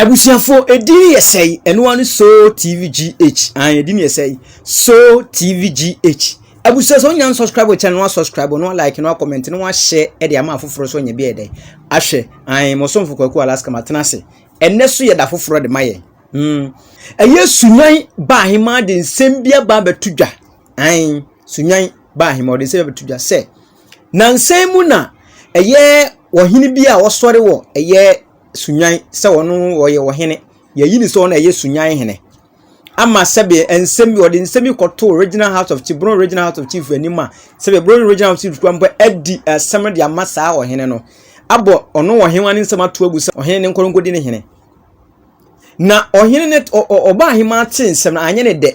abusuafo edin yɛ sɛ yi ɛnoa no so tv gh an edin yɛ sɛ yi so tv gh abusua sɛ wonya nsubscribe kyɛ no asubscribe no like no comment no ahyɛ ɛde ama afoforɔ so ɔnyɛ bi ɛdɛ ahwɛ an mosomfo kwaku alaska matena ase ɛnɛ so yɛ da foforɔ de ma yɛn hmm. ɛyɛ sunwan baa hema de nsɛm bi aba abɛto dwa Aane, Sunyan baa he ma ɔde nsɛm bɛto dwa sɛ, nansa yi mu na ɛyɛ ɔhene bi a ɔsɔre wɔ ɛyɛ Sunyan sɛ ɔno ɔyɛ ɔhene. Yɛyi ne sɛ ɔno ɛyɛ Sunyan hene. Ama sɛbe nsɛm bi ɔde nsɛm bi kɔtoo Regional House of Chief, Brong Regional House of Chief anim a sɛbe Brong Regional House of Chief kura mpo adi asɛm no de ama saa ɔhene no. Abɔ ɔno ɔhewa ne nsɛm ato agu sɛ ɔhene ne nkɔnkɔdi ne hene. Na ɔhene no, ɔbaa ahemaa tee nsɛm no, anyɛ ne dɛ.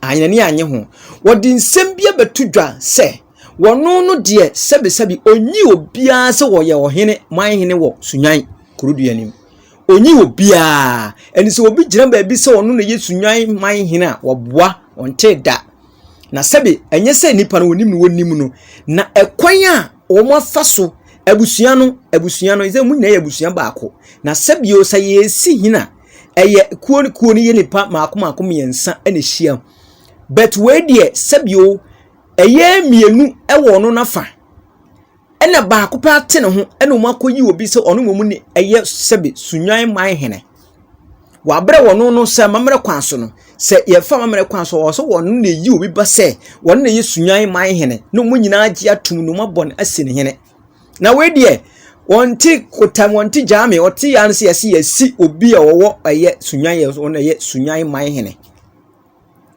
Anyɛ n'ani anyɛ ho. Wɔde nsɛm bi abɛto dwa sɛ, wɔno no deɛ sɛbesɛbe ɔnyi obiara sɛ wɔyɛ ɔhene, man hene wɔ Sunyan kurodua anim. Ɔnyi obiara. Ɛne sɛ obi gyina baabi sɛ ɔno na ɛyɛ Sunyan man hene a, wɔboa, ɔntee da. Na sɛbe ɛnyɛ sɛ nnipa no wɔnim no wɔnim no, na ɛkwan a wɔafa so abusua no abusua no sɛ wɔn nyinaa yɛ abusua baako. Na sɛbio sɛ yɛresi hina ɛyɛ kuo ne kuo no yɛ nipa mako mako mmiɛnsa na ɛhyia. But wei deɛ sɛbio ɛyɛ mmienu ɛwɔ ɔno nafa. ɛna baako paa te ne ho ɛna wɔn akɔyi obi sɛ ɔno mmom ne ɛyɛ sɛbe sunwan man hene wabrɛ wɔn no sɛ amammerɛ kwan so no sɛ yɛfa amammerɛ kwan so ɔwɔ sɛ wɔn na eyi obi ba sɛ wɔn na ɛyɛ sunwan man hene na wɔn nyinaa gye atum na wɔn abɔ no asi ne hene na wei deɛ wɔn ti kotam wɔn ti gyaame ɔte yan sɛ yɛsi yɛsi obi a ɔwɔ ɛyɛ sunwan yɛ ɔno ɛyɛ sunwan man hene.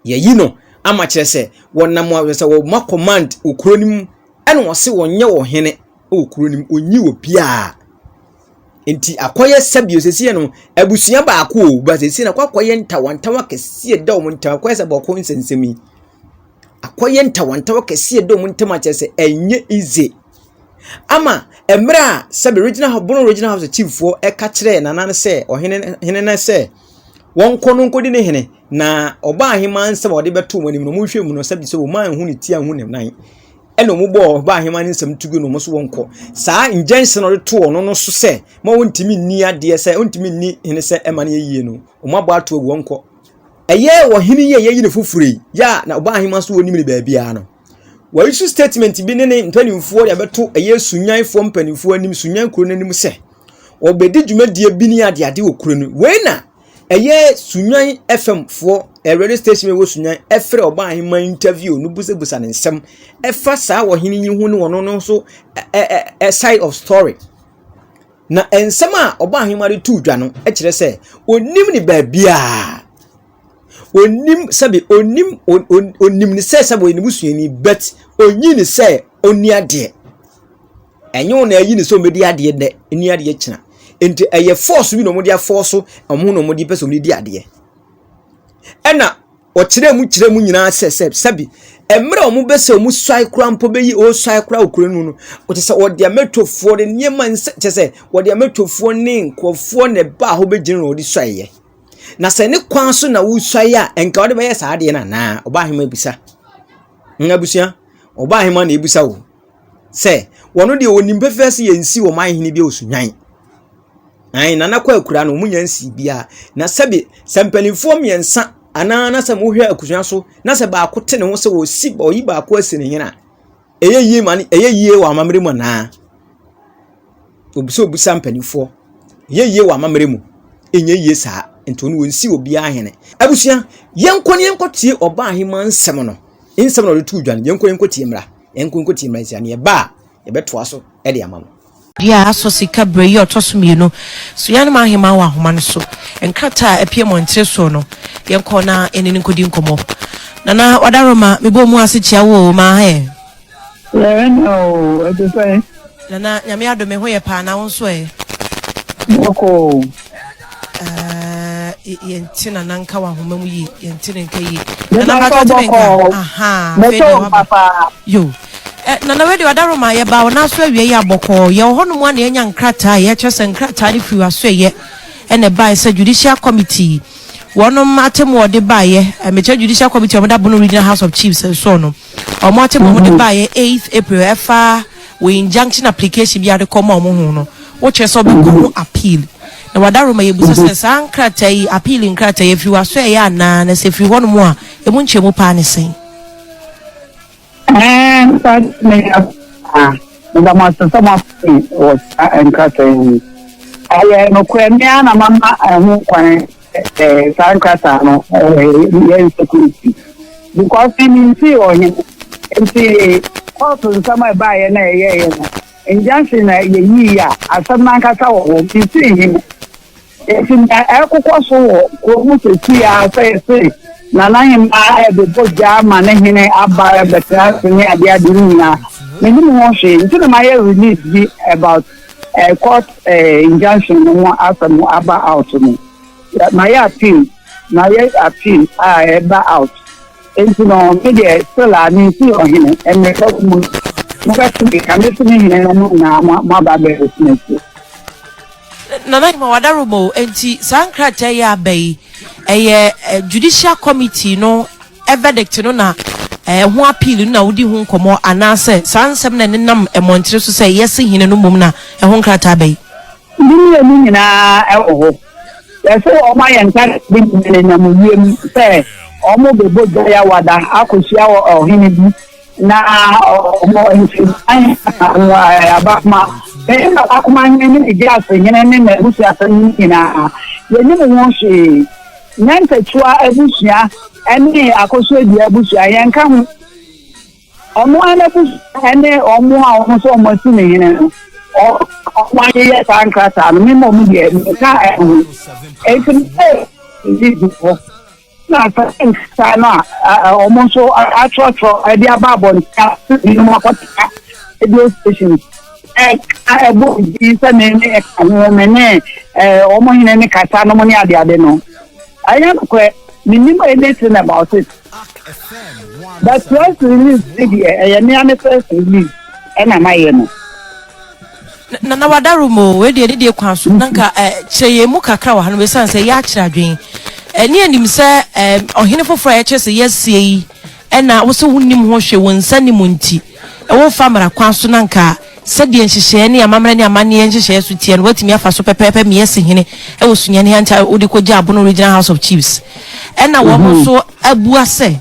Yɛayi no ama kyerɛ sɛ wɔnam a sɛ wɔma command wɔ kuro no mu ɛna wɔse wɔnyɛ wɔ hene wɔ kuro no mu ɔnyi wɔ biaa nti akɔyɛ sɛbio sɛsie no abusua baako o ba sɛsie no akɔ akɔyɛ ntawantawa kɛsie da wɔn ntam akɔyɛ sɛ bɔko nsɛnsɛm yi akɔyɛ ntawantawa kɛsie da wɔn ntam akyerɛ sɛ ɛnyɛ ize ama mmerɛ a sɛbi regional house bono regional house chieffoɔ ɛka kyerɛ nana no sɛ ɔhene no sɛ wɔnkɔ no nkɔdi ne hene, na ɔbaa aheman nsɛm a wɔde bɛto wɔn anim no, wɔnhwɛ mu no, sɛbi sɛ wɔn anhu ne ti anhu ne nan. ɛna wɔn bɔɔ ɔbaa aheman nsɛm to gu no wɔn so wɔn kɔ saa ngyɛnse na ɔde to wɔn no so sɛ ma wɔntumi nni adeɛ sɛ wɔntumi nni hene sɛ ɛma no yɛ yie no wɔn abɔ ato agu wɔn kɔ ɛyɛ ɔhene yi a yɛyi ne foforɔ yi yɛ a na ɔbaa aheman so wɔnim ne baabiara no wɔyi so statement bi ne ne mpanimfoɔ de abɛto ɛyɛ sunyanfoɔ mpanimfoɔ anim sunyan kuro no anim sɛ Wɔbɛdi dwumadie bi ne adeade wɔ kuro no mu. Wei na ɛyɛ Sunyani FM foɔ, radio station a ɛwɔ Sunyani ɛfrɛ Ɔbaaheman interview no busabusa no nsɛm ɛfa saa ɔhene yi ho ne ɔno no nso ɛ ɛ ɛ side of story. Na nsɛm a Ɔbaaheman de too dwa no kyerɛ sɛ ɔnnim ne baabiara. Onnim sɛbi onnim onnim ne sɛ sɛbi ɔyɛ ne busuani but onyi ne sɛ onni adeɛ. Ɛnyɛ wɔn na ayi ne sɛ ɔmɛdi adeɛ nnɛ ɛni adeɛ kyina. Nti ɛyɛ force bi na wɔn de afɔɔso wɔn na wɔn de pɛ sɛ wɔn di adeɛ. Ɛna ɔkyerɛ mu kyerɛ mu nyinaa sɛ sɛ sɛbi mmerɛ a wɔn bɛ sɛ wɔn suae koraa mpo bɛyi ɔsuae koraa okuro no no ɔkyɛ sɛ ɔde amɛtofoɔ ne nneɛma nsɛ kyɛ sɛ ɔde amɛtofoɔ ne nkurɔfoɔ na ɛbaa hɔ bɛgyina na ɔde suaeɛ. Na sɛ ne kwan so na wosuae a, nka wode bɛyɛ saa adeɛ no anaa? Ɔbaahema bisa. Nga abusua, ɔbaahema na ebisa o. Sɛ, wɔno deɛ wɔnim pɛfɛɛ sɛ yɛnsi wɔn ahene bi a ɔsunwan. Ae, nana kɔ akura no, wɔn nyɛ nsi biara. Na sɛbe, sɛ mpanimfoɔ mmiɛnsa anaa na sɛ mohwɛ akusua so, na sɛ baako te ne ho sɛ wɔsi, ɔyi baako asi ne hene a, Ɛyɛ yie ma ɛyɛ yie wɔ amammerɛ mu anaa? Obi sɛ obisa mpanimfoɔ. Ɛyɛ yie wɔ amammerɛ mu? Ɛnyɛ yie saa nti ɔno wɔnsi obiara hene. Abusua, yɛnkɔ ne yɛnkɔ tie ɔbaa ahema nsɛm no. Nsɛm na ɔde tu dwa no, yɛnkɔ yɛnkɔ tie mmra. Yɛnkɔ yɛnkɔ tie mmra nsia ne ɛba a yɛbɛtoa so de ama no. Dua a asɔ sika berɛ yi a ɔtɔ so mmienu so yɛn anom ahemman wɔ ahoma no so. Nkrataa a apue mmɔntene soɔ no, yɛn kɔ na yɛne no nkɔdi nkɔmmɔ. Nana Wadaroma, me bɔɔ mu ase kyia wo o, maa he? Yɛɛ na o, ɛte sɛn? Nana, Nyame adom, me ho yɛ paa, na wo nso ɛ? Bɔkɔɔ o. Eh, yɛnte na na nka wahoma mu yie yɛnte ne nka yie nana bɛtɔ ɔte ne nka aha afei na waba yo eh, nana wei de ɔdaro ma yɛba wɔn aso awie yɛ abɔkɔɔ yɛ wɔ hɔnom a na yɛnya nkrataa yɛkyerɛ sɛ nkrataa no firi aso yɛ ɛna ɛbaeɛ sɛ judicial committee wɔnom atemu ɔde baeɛ eh, mekyerɛ judicial committee wɔn da bono regional house of chiefs nsoɔ no Wɔn akyɛm a wɔde baeɛ eighth April ɛfa wo injunction application bi a wɔde kɔmaa wɔn ho no, wokyerɛ sɛ wobɛkɔ ho appeal. Na Wadaro ma yɛbisa sɛ saa nkrataa yi, appeal nkrataa yi, ɛfiri w'asoɛeɛ anaa na sɛ ɛfiri hɔnom a, ɛmu nkyerɛmu paa ne sɛn? Ɛɛ, saa na yɛ a meda mo ase sɛ moafei wɔ saa nkrataa yi. Ɛyɛ nokorɛ, me ara na mama ɛho kwan. Ɛɛ, saa nkrataa no, ɛɛ, yɛ insecurity. Because ni nti ɔhene, nti kɔɔto nsɛm a ɛbaeɛ na ɛyɛeɛ no, injunction na yɛyii a asɛm no ankasa wɔ hɔ, nti hene. Nti na ɛkokɔ so wɔ kuro mu sɛsi a sɛ yɛse nana hemaa ɛbɛbɔ gya ama ne hene aba ɛbɛtena ase ne adeɛ adeɛ no nyinaa. Menim ho hwee, nti na mayɛ release bi about eh, court eh, injunction no ho asɛm aba out no mayɛ appeal mayɛ appeal a ɛba out nti no me deɛ still a mensi ɔhene mmerɛka mu mobɛto me ka mesi ne hene no mo nyinaa moaba bɛ witness nana nyima wadaroma o nti saa nkrataa yi aba yi ɛyɛ judicial committee no verdict no na ɛho appeal no na wodi ho nkɔmmɔ anaasɛ saa nsɛm na ɛnenam mmɔntere so sɛ yɛse hene no mmom na ɛho nkrataa bɛyi? Ne mmienu nyinaa wɔ hɔ. Yɛse wɔayɛ nkrataa bi ma nenam wiem sɛ wɔbɛbɔ gya yawada akɔhyia ɔhene bi na ɔwɔ mfensan anaa abakoma hene, abakoma hene ne ne gyasehene ne n'abusuasɛm no nyinaa yɛnim ho hwee. Nantatua abusua ne Akosua-Dua abusua, yɛnka ho. Wɔn ara n'abusua ne wɔn a wɔn nso wɔn asi ne hene no, wɔn ayeyɛ saa nkrataa no, mema wɔn deɛ nka ɛho. Enti meyɛ didi hɔ na sɛ nkrataa no a wɔn nso atwerɛtwerɛ de aba abɔnten a binom akɔtena radio station a ɛbɔ din sɛ me ne ɛka ho me ne wɔn hene ne kasa nom ne adeade no ɛnyɛ nokorɛ menim anything about it but press release ne deɛ ɛyɛ mea ne press release ɛna mayɛ no na na wadaro mu wei deɛ ne deɛ kwan so na nka kyerɛ yɛn mu kakra wɔ ha no bɛsiane sɛ yɛakyerɛ adwen ɛne anim sɛ ɔhene foforɔ a yɛkyerɛ sɛ yɛasie yi ɛna wo sɛ wonim ho hwɛ wɔn nsa ne mu nti Wɔmfa mmara kwan so na anka sɛdeɛ nhyehyɛɛ ne amammerɛ ne amanneɛ nhyehyɛɛ so teɛ no wɔatumi afa so pɛpɛɛpɛ me asi hene wɔ Sunyani Hancha a wode kɔgyaa Abono Regional House of Chiefs ɛna wɔn nso abua sɛ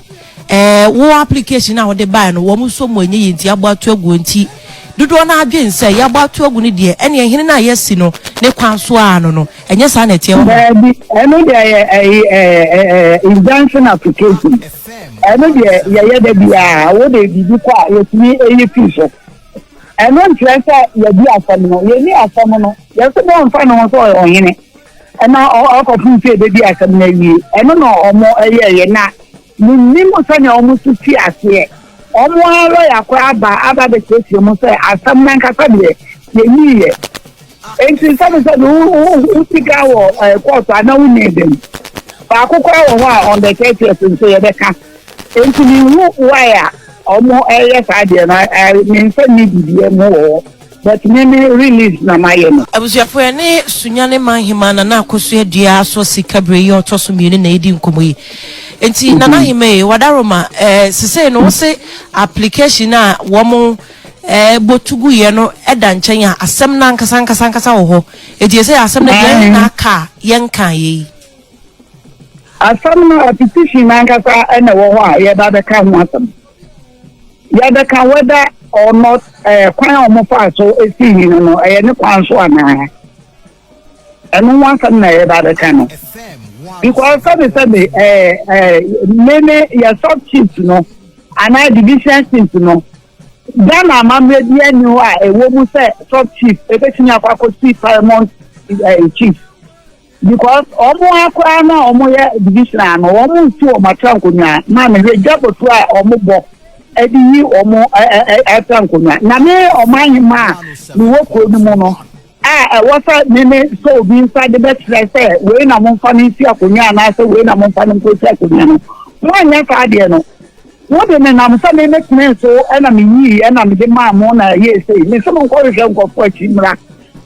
ɛɛ wo application a wode baeɛ no wɔn nso mu ɛnyɛ yie nti yɛabɔ ato aguo nti dodoɔ no ara dwen sɛ yɛabɔ ato agu no deɛ ɛneɛ hene no a yɛasi no ne kwan so ara no no Ɛnyɛ saa na ɛteɛ wɔ ma? Daabi, ɛno deɛ yɛ ɛyi ɛɛ ɛɛ injunction application. Ɛno deɛ yɛyɛ da biara, wo de biribi kɔ a yɛtumi ɛyi fi so. Ɛno nkyerɛ sɛ yɛdi asɛm no, yɛni asɛm no, yɛsɛ bɛ ɔmfa ne ho sɛ ɔyɛ ɔhene. Ɛna ɔkɔfo sɛ ɛbɛdi asɛm no awie, ɛno na ɔmo ɛyɛ yɛ na. Minnim sɛnea wɔn su fii aseɛ. Wɔn ara lɔya koro aba aba abɛsiesie mu sɛ asɛm no ankasa deɛ, yɛnyiiɛ. Enti sɛne sɛ wo, wo, wo sika wɔ ɛɛ kɔɔto a, na wonni dɛn? Baako koraa wɔ hɔ a, on the thirtieth nso yɛbɛka. Enti menhu why a wɔyɛ saa deɛ no, ɛɛ, me nsa nni biribiara mu wɔ hɔ. But me me release na mayɛ no. Abusuafo yɛne Sunyani Manhemaa Nana Akosua Dua Asɔ Sika Bere yi a ɔtɔ so mmienu na yɛredi nkɔmmɔ yi. Nti Nana mm-hmm. Hema yi, Wadaroma, eh, sesei no wose application a wɔn eh, botu gu yɛ no ɛda nkyɛn a asɛm no ankasa ankasa ankasa wɔ hɔ. Eti ɛsɛ asɛm no deɛ yɛn na aka a yɛnka yɛ yi. Asɛm no application ankasa ɛna wɔ hɔ a yɛba bɛka ho asɛm. yɛbɛka whether or not ɛɛ eh, kwan a wɔn fa so esi yi no no ɛyɛ ne kwan so anaa ɛno ho asɛm na yɛba abɛka no because sɛbi sɛbi ɛɛ ɛɛ mene yɛ sub chiefs no anaa division chiefs no ghana amammerɛ bi ani hɔ a ɛwɔ mu sɛ sub chief ebetumi akɔ akɔsi paramount ɛɛ eh, chief. Because ɔmo ara koraa no a ɔmo yɛ divisional no ɔmo nsi ɔmo atra nkonwa ma me hwɛ gya bɔtu a ɔmo bɔ ɛde yi ɔmo ɛ ɛ ɛ atra nkonwa na me ɔman hema a me wɔ kuro no mu no a ɛwɔ sɛ me me sɔ obi nsa de bɛ kyerɛ sɛ wei na mo nfa no nsi akonwa anaa sɛ wei na mo nfa no nko si akonwa no mo anyɛ saa adeɛ no mo de me nam sɛ me me tene so ɛna me yii ɛna me de maa mo na ɛyɛ esei me sɛ mo nkɔ hwehwɛ nkɔfo akyi mmra.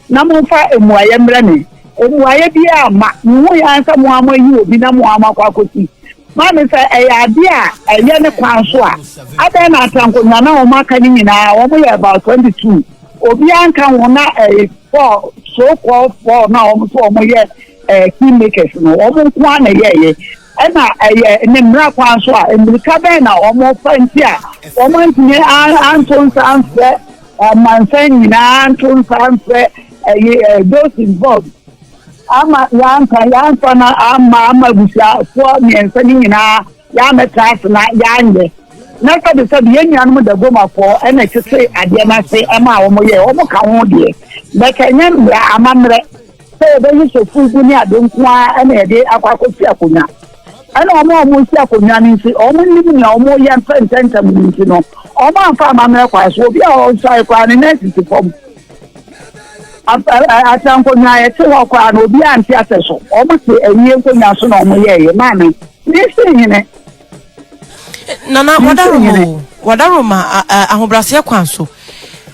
na momfa mmuaeɛ mmrɛ me. Mmuaeɛ biara amma. Mehui ara sɛ mo ara moayi obi na mo ara moakɔ akɔsi ma me. Sɛ ɛyɛ adeɛ a ɛyɛ ne kwan so a, adɛn na Atankonwa no a wɔaka no nyinaa, wɔyɛ about 22, obiara anka ho na ɛyɛ four, so called four no a wɔn so wɔyɛ eh, key makers no, wɔn nko ara na ɛyɛeɛ? Ɛna ɛyɛ ne mmara kwan so a, mmirika bɛn na wɔfa nti a wɔantumi anto nsa amfrɛ Ɔmansan nyinaa nto nsa mfrɛ ɛyi ɛ those involved ama yɛanka yɛanfa no ama ama abusuafoɔ mmiɛnsa no nyinaa yɛamɛtra ase na yɛanyɛ na sɛde sɛde yɛn nuanom dagomafoɔ ɛna ɛtete adeɛ no ase ɛma a wɔn yɛ wɔn ka ho deɛ bɛka ɛnyɛ mmara amammerɛ sɛ yɛbɛyɛ sɔfo gu ne ade nko ara ɛna yɛde akɔ akɔsi akonnwa. Ɛna wɔn a wɔresi akonnwa no nso, wɔnnim nea wɔreyɛ mfa ntɛmntɛm no nti no, wɔamfa amammerɛ kwan so. Obi a ɔnsae koraa ne nan sisi fam. Atra nkonnwa a ɛte hɔ koraa no, obi ante asɛ so. Wɔte awie nkonnwa so na wɔyɛeɛ. Maame, mesi hene. Nana, wadaroma o, wadaroma ahobrɛaseɛ kwan so.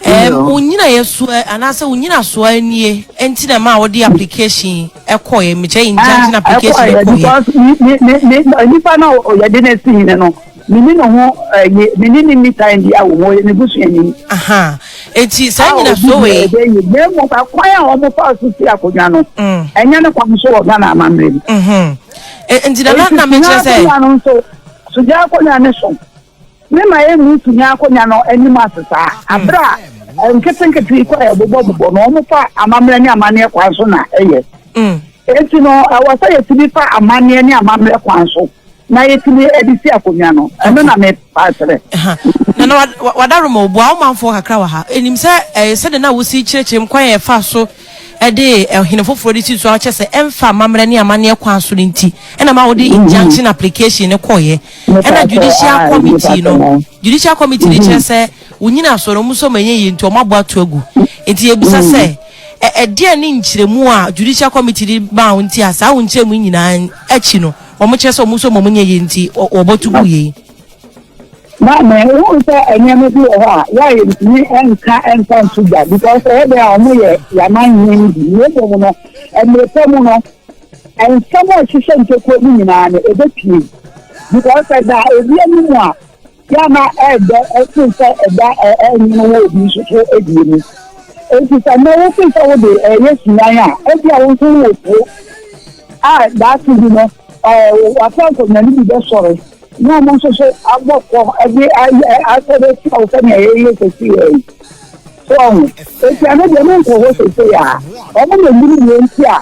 Ɛɛm, wo nnyinaeɛsoɔ anaasɛ wo nnyinasoɔ ara nie nti na ɛmaa wode application yi kɔeɛ? Mekyerɛ in Ah, junction application yi ɛkɔeɛ kɔeɛ. because me me me me ɛ, nipa no a yɛde no asi hene no, me ne ne ho ɛyi, me ne ne nni time biara wɔ ho, ɔyɛ me busuani Ahaa, enti saa a obi nnyinasoɔ deɛ wei, ɛbɛyɛ yie. Na mmom akwan a wɔfa so si akonnwa no, mm, ɛnyɛ ne kwan so wɔ Ghana amammerɛ mu. mhm, E- enti na na Enti na mekyerɛ sugyaa sɛ, akonnwa no nso, sugyaa akonnwa no so. Ne ma yɛn mu tumi akonya no anim ase saa. Abere a nketenkete yi kɔ yɛ bobɔbobɔ no, wɔn fa amammerɛ ne amanneɛ kwan so na ɛyɛ. Mm. Enti no, ɛwɔ sɛ yɛtumi fa amanneɛ ne amammerɛ kwan so na yɛtumi de si akonya no. Ɛno na me pa kyerɛ. Na na wada roma obu a ɔmanfoɔ kakra wɔ ha. Enim sɛ ɛyɛ sɛ de na wosi kyerɛkyerɛm kwan yɛ fa so ɛde ɛhene foforɔ de si so a ɔkyɛ sɛ ɛmfa amammerɛ ne amanneɛ kwan so no nti. Ɛna ma wɔde injunction application ne kɔɔyɛ. Ɛna judicial committee no, judicial committee no kyerɛ sɛ wo nyinasoɔ no, wɔn nso wɔn yie nti wɔn abɔ ato agu. Nti yɛbisa sɛ, ɛ ɛdeɛn ne nkyerɛmu a judicial committee de maa wo nti a saa wo nkyerɛmu yi nyinaa akyi no, wɔn kyerɛ sɛ wɔn nso wɔn nyɛ yie nti wɔ wɔbɔ to gu yei? Maame, wohu sɛ nneɛma bi wɔ hɔ a yɛayɛ ntumi nka nfa nto gya because ɛyɛ dɛn a wɔyɛ yɛaman hene no bi. Na mmom no, mmerɛ pa mu no, Nsɛm a ɛhyehyɛ ntokuro no nyinaa no, ɛbɛpue. Because sɛ ɛda obi anim a, yɛ a na ɛdɔ ɛsen sɛ ɛda ɛnwono wɔ obi nso so deɛ mu. Enti sɛ nnɛ wote sɛ wode ɛyɛ suman a, ebia wo nso wowɔ kuro a daakye bi no w'afa nkɔnyane bi bɛsɔre na wɔn nso so abɔ fɔ de asɔre atia wo sɛnea yɛyɛ sɛseyɛ yi. So ɔho, enti ano deɛ menkɔ hɔ sɛseyɛ a, wɔn na ɛnyini deɛ nti a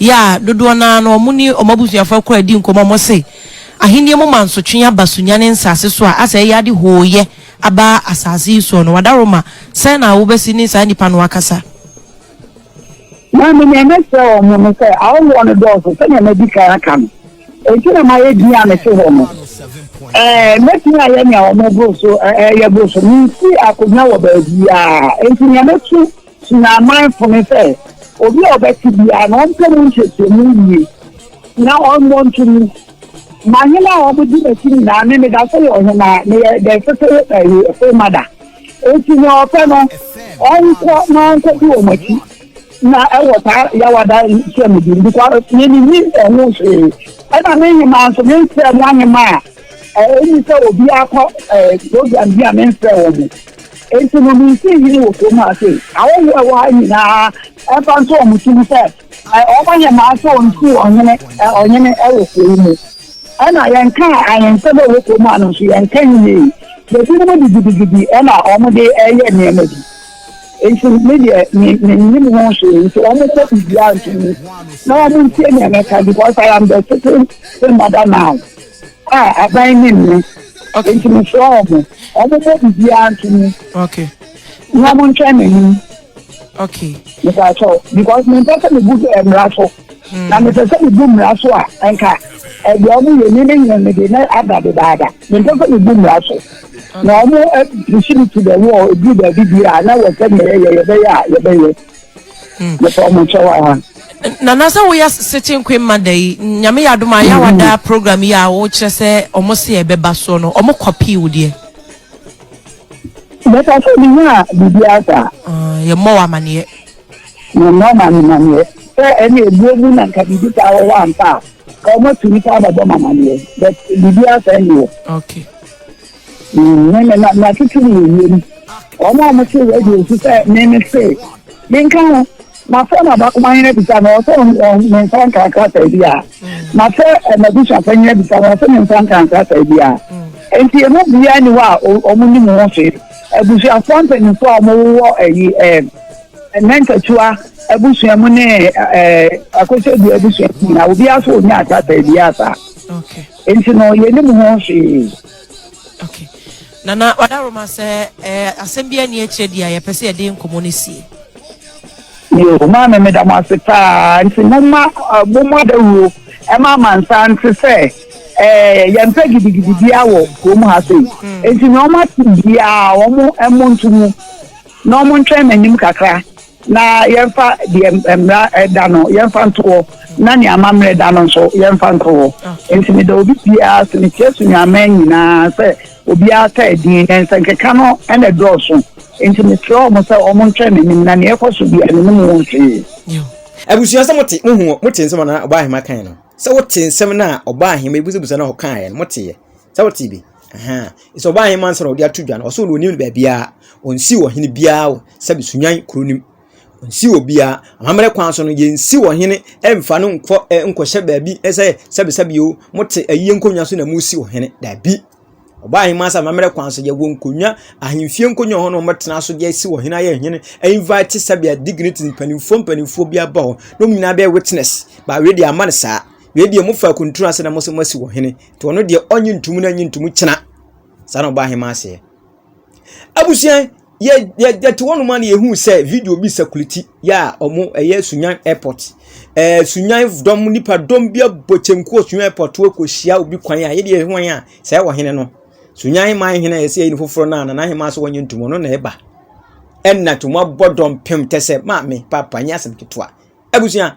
yɛ a dodoɔ no ara no wɔn ne wɔn abusuafoɔ kɔ redi nkɔmmɔ a wɔse ahennie mu mansotwe aba Sunyani nsase so a asɛ ɛyɛ ade hooyɛ aba asase yi soɔ no wadaworo ma sɛn na wobɛsi ne saa nnipa no akasa. Maame nea mɛkyerɛ wɔn no sɛ awowoɔ no dɔɔso sɛnea madi kan aka no enti na mayɛ din a mete hɔ no ɛɛ mɛtumi ayɛ nea wɔn boro so ɛyɛ boro so mensi akonnwa wɔ baabiara enti nea mɛtu Tena amanfo no sɛ obi a ɔbɛte biara na ɔmpɛ mu nhwehwɛmu nwie na ɔmmɔ nto mu. Ma hena a wɔde m'akyi nyinaa ne meda so yɛ ɔhene a meyɛ dɛn fefew ayi fo ma da. Enti nea ɔpɛ no, ɔnkɔ na ɔnkɔdi wɔn akyi na ɛwɔ saa yawada nhyiamdi no kwa me minnim ɛho hwee. Ɛna me nhema nso memfrɛɛ mo ahema a ɛne sɛ obiara kɔ program bi a memfrɛɛ wɔn. Enti no, minsii hene wɔ kurom ha sei. Ahɔho a ɛwɔ ha nyina ara, ɛmfa nto wɔn ti mu sɛ, wɔayɛ mmaa sɛ wɔnsi ɔhene, ɔhene wɔ kuro yi mu. Ɛnna yɛnkaa ahensɛm a ɛwɔ kurom ha no nso, yɛnka nwiei. Ebinom de gidigidi na wɔde reyɛ nneɛma bi. Enti me deɛ, me, mennim ho hwee. Enti wɔmmɔ biribiara nto mu, na wɔntie nea mɛka, because I am the sitting, sitting mother now. A aban ne nnɛ. Okay. Nti mo srɛ wɔn mo. Wɔn mo bɔ bibiara nto mu. Okay. Na mo ntwɛn n'anim. Okay. Nípa atɔ because mi mpɛ sɛ mi bu eh, mmara so. Hmm. Na mi pɛ sɛ mi bu mmara so a nka ɛdi eh, ɔmo yɛ mi ne nyina mi de na ada dedaada. Mi mpɛ sɛ mi bu mmara so. Na ɔmo ɛpisi eh, mi ti dɛ wɔ ebi baabi bi a na wɔ sɛ mi yɛ yɛ yɛ bɛyɛ a yɛ bɛyɛ. nana sɛ woyɛ sitting queen ma da yi nyame yɛ adom a yɛ wada program yi a wokyerɛ sɛ ɔmo se ɛbɛba soɔ no ɔmo kɔpii wo deɛ mɛka sɛ menya a biribi asa yɛmmɔ wɔ amaneɛ yɛmmɔ amaneɛ sɛ ɛne ɛbuo mu na nka biribi saa wɔwɔ ampa a ka ɔmatu nipa abɛbɔ mamaneɛ but biribi asa nni hɔ Mene me na matete no wɔ wiem. Wɔn a wɔte radio so sɛ me me se, Menka ho. Mafrɛ m'abakoma hene abisa no, ɔse me nsa nka nkrataa biara. Mafrɛ m'abusuafo hene abisa no, ɔse me nsa nka nkrataa biara. Enti yɛn mu biara ni hɔ a wɔn nim ho hwee. Abusuafo mpanyinfo a wɔn wɔ ɛyi ɛɛ mɛntatua abusua mu ne ɛɛ akosɛdua abusua mu nyinaa obiara so wɔn nya nkrataa biara saa. Okay. Nti no yɛnim ho hwee. Ok. Nana Wadaroma sɛ eh, asɛm bi ani akyerɛ di a yɛpɛ sɛ yɛde nkɔmmɔ no sie. Yo, maame meda mo ase paa. Nti momma uh, momma dawuro ɛma amansan nte sɛ eh, yɛmpɛ gidigidi biara wɔ kurom ha sei. Hmm. Nti nea wɔate biara wɔn mmɔ nto mu na wɔn ntwɛn m'anim kakra. na yɛmfa deɛ mmara da no yɛmfa nto hɔ na nea amammerɛ da no nso yɛmfa nto hɔ okay. nti meda obi biara sɛ mekyerɛ so nyaman nyinaa sɛ obiara ta adin na nsɛnkeka no ɛna dɔɔso nti mekyerɛ ɔmo sɛ ɔmo ntwɛn n'anim na nea ɛkɔ so bia n'anim wɔ hwee abusua sɛ mote mohu mote nsɛm a ɔbaa ahema kan no sɛ wote nsɛm no a ɔbaa ahema ebusabusa na ɔkaeɛ no moteɛ sɛ wote bi Ahaa, sɛ ɔbaa ahenman ansa na ɔde ato dwa no, ɔsɛ ɔno onim no baabiara. Ɔnsiw ɔhene biara wɔ sɛbe Sunyani kuro no mu. Ɔnsiw obiara. Amammerɛ kwan so no, yɛnsiw ɔhene mfa no nkɔ eh, nkɔhyɛ baabi eh, sɛ sɛbe sɛbe o, mote ayie nkonnwa so na mosiw ɔhene. Daabi. Ɔbaa ahenman ansa amammerɛ kwan so, yɛwɔ nkonnwa, ahemfie nkonnwa wɔ hɔ na wɔbɛtena so de asi ɔhene ayɛ ɔhene, invite sɛbe a dignity mpanimfoɔ mpanimfoɔ bi aba hɔ na wɔn nyinaa bɛyɛ witness. But wei deɛ amma no saa. Na ebia mofa akuntunu ase na mo sɛ moasi wɔ hene nti ɔno deɛ ɔnye ntumu na nye ntumu kyena saa na ɔbaa hema aseɛ abusua yɛ yɛ yɛte hɔ nom a na yɛhu sɛ video bi sakuliti yɛ a ɔmo ɛyɛ sunyan airport ɛɛ sunyan dɔm nipa dɔm bi abɔ kyenku wɔ sunyan airport wɔ kɔhyia obi kwan a yɛde yɛhwan a sɛ ɛwɔ hene no sunyan hema hene a yɛsɛ yɛni foforɔ no a nana hema so wɔnye ntumu ɔno na ɛba ɛnna to mo abɔ dɔm pem tɛ sɛ maame papa nyɛ asɛm ketewa abusua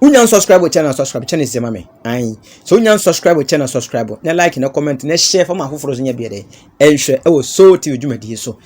wonya nsubscribe wɔ channel subscribe channel sɛ ma me ayi sɛ wonya nsubscribe wɔ channel subscribe na like na comment na share fama afoforɔ so nyɛ deɛ dɛ ɛnhwɛ ɛwɔ soul tv dwumadie so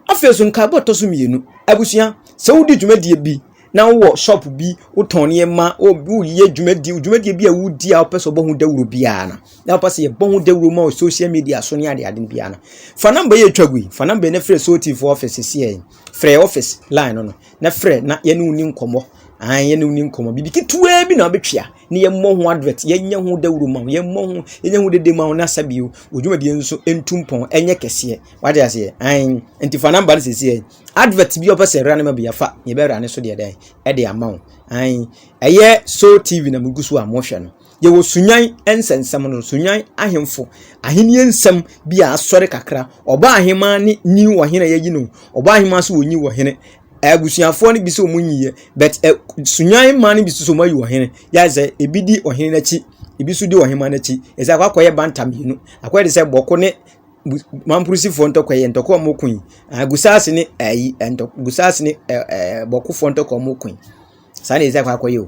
afei so nkaebɔ tɔ so mmienu abusua sɛ wodi dwumadie bi na wowɔ shop bi wotɔn nneɛma woyɛ dwumadi dwumadie bi a wodi a wopɛ sɛ ɔbɔ ho dawuro biara no na wopɛ sɛ yɛbɔ ho dawuro ma wɔ social media so ne ade ade no biara no fa namba yɛ atwa gui fa namba yɛ na frɛ sotifoɔ ɔfɛ sɛsiɛ frɛ office line no no na frɛ na yɛne wo ni nkɔmmɔ an yɛne wo ni nkɔmmɔ biribi ketewaa bi na wobɛtwea ne yɛmmɔ ho advert yɛnyɛ ho dawuro ma wo yɛmmɔ ho yɛnyɛ ho dede ma wo na sa bio odwuma bi nso ntu mpɔn ɛnyɛ kɛseɛ wade aseɛ an nti fa namba no sɛsiɛ advert bi ɔpɛ sɛ ɛwura ne ma bi afa yɛbɛwura ne so deɛ dɛn ɛde ama wo an ɛyɛ so tv na mugu so a mohwɛ no Yɛwɔ Sunyan nsɛnsɛm no, Sunyan ahemfo ahenni nsɛm bi a asɔre kakra. Ɔbaa ahemmaa ne nyi ɔhene a yɛyi no. Ɔbaa ahemmaa so wɔnyi ɔhene. Abusuafoɔ no bi sɛ wɔn nyiiɛ, but ɛ Sunyan mmaa no bi so sɛ wɔn ayi ɔhene. Yɛ sɛ ebi di ɔhene n'akyi, ebi so di ɔhemmaa n'akyi. Yɛ sɛ akɔ akɔyɛ banta mmienu. Akɔyɛ de sɛ bɔko ne mamporosifoɔ ntɔkwa yɛ ntɔkwa a wɔn ko yi. Gusaase ne ɛyi ntɔ gusaase ne ɛɛ bɔkofoɔ ntɔkwa wɔn ko yi. Saa na yɛ sɛ akɔ akɔyɛ o.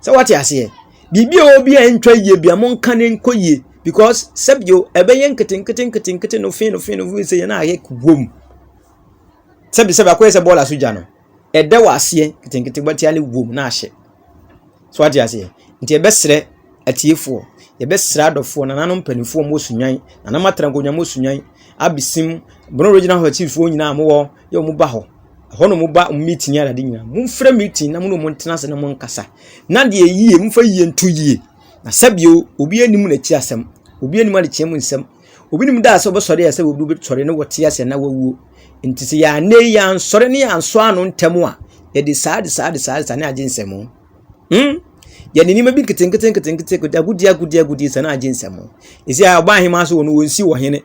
Sɛ wate aseɛ? Biribi a ɛwɔ bi a ɛntwa yie bi a monka no nkɔ yie because sɛbio ɛbɛyɛ nketenkete nketenkete no fin no fin no fin sɛ yɛn ayɛ wom. Sɛbi sɛbi akɔyɛ sɛ bɔɔl asogya no ɛda wɔ aseɛ nketenkete bɛtia ne wom na ahyɛ. So wate aseɛ? Nti ɛbɛsrɛ atiefoɔ yɛbɛsrɛ adɔfoɔ nananom mpanimfoɔ mo sunyan nananom atena nkonnwa mo sunyan abesim bono regional hɔtifoɔ nyinaa mowɔ yɛ wɔn ba hɔ Ɛhɔ na wɔba wɔn meeting ara ade nyinaa. Momfrɛ meeting na mo ne wɔn ntena ase na monkasa. Na deɛ ɛyɛ yie, momfa yie nto yie. Na sɛbio, obiara nim n'akyi asɛm. Obiara nim adekyeɛ mu nsɛm. Obi nim da a sɛ wɔbɛsɔre a sɛ obi bɛsɔre na wɔte ase anaa wawuo. Nti sɛ yɛanne yi ansɔre ne ansɔ ano ntɛm a, yɛde saa de saa de saa de saa ne agye nsɛm. Hmm? Yɛde nneɛma bi nketenkete nketenkete nketenkete agudie agudie agudie saa na agye nsɛm. Ɛsi a ɔbaa ahema so wɔ no wɔnsi wɔ hene.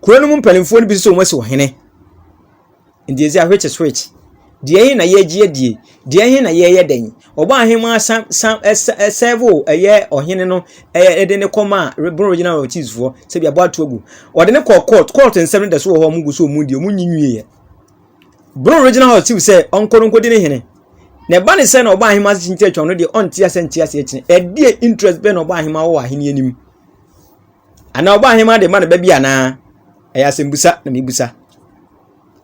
Kuro no mu mpanimfoɔ no bi sɛ wɔn asi wɔ hene. Enti ɛsɛ which is which? Deɛ he na yɛregye adie? Deɛ he na yɛreyɛ dɛn? Ɔbɔ ahemmaa san san ɛsɛvo ɛyɛ ɔhene no ɛyɛ de ne kɔma Bono Regional Royal Chiefs foɔ sɛbi abɔ ato agu. Ɔde ne kɔɔ court court nsɛm no da so wɔ hɔ a wɔn gu so wɔn di wɔn nyi nwieɛ. Bono Regional House Chief sɛ ɔnkɔ no nkɔdi ne hene. Na ɛba ne sɛ na ɔbɔ ahemmaa ase kyinkyɛ atwa no deɛ ɔnte ase nte ase akyine. Ɛdeɛ interest bɛn na ɔbɔ ahemmaa wɔ wɔ ahenni anim? Anaa ɔbɔahenmma de rema ne ba bi anaa? Ɛyɛ asɛmbisa na mibisa.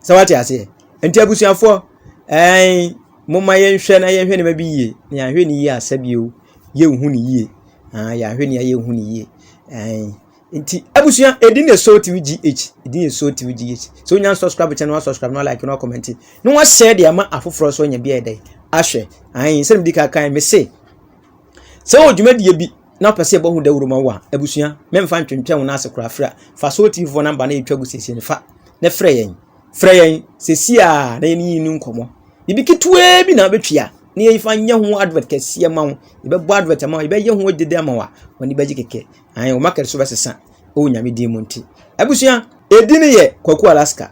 Sɛ wate aseɛ? Nti abusuafoɔ, ɛɛn, momma yɛnhwɛ na yɛnhwɛ nneɛma bi yie. Na yɛanhwɛ ne yie a, sɛbio, yɛnhu ne yie. Ah, yɛanhwɛ ne a yɛnhu ne yie. Ɛɛn. Nti abusua, ɛdi ne so tv gh, ɛdi ne so tv gh. Sɛ wonya nsubscribe kyɛ no wasubscribe na walike na wakɔmɛnti. Na wahyɛ de ama afoforɔ nso anya bi a ɛdɛ ahwɛ. Ahen, sɛ medi ka kan, me se, sɛ wɔ dwumadie bi na ɔpɛ sɛ ɛbɔ ho dawuro ma wo a, abusua, memfa ntwentwɛn wo nan ase koraa frɛ. Fa Soul TV fo namba na yɛtwa gu siesie no fa na frɛ yɛn. Frɛ yɛn sɛsi a na yɛne yi no nkɔmmɔ. Biribi ketewaa bi na wobɛtua na yɛfa nyɛ ho advert kɛseɛ ma wo. Yɛbɛbɔ advert ama wo, yɛbɛyɛ ho dede ama wo a, wɔn bɛgye kɛkɛ. Ae, wo market so bɛsesa ɛwɔ Nyame din mu nti. Abusua, ɛdi ne yɛ Kwaku Alaska.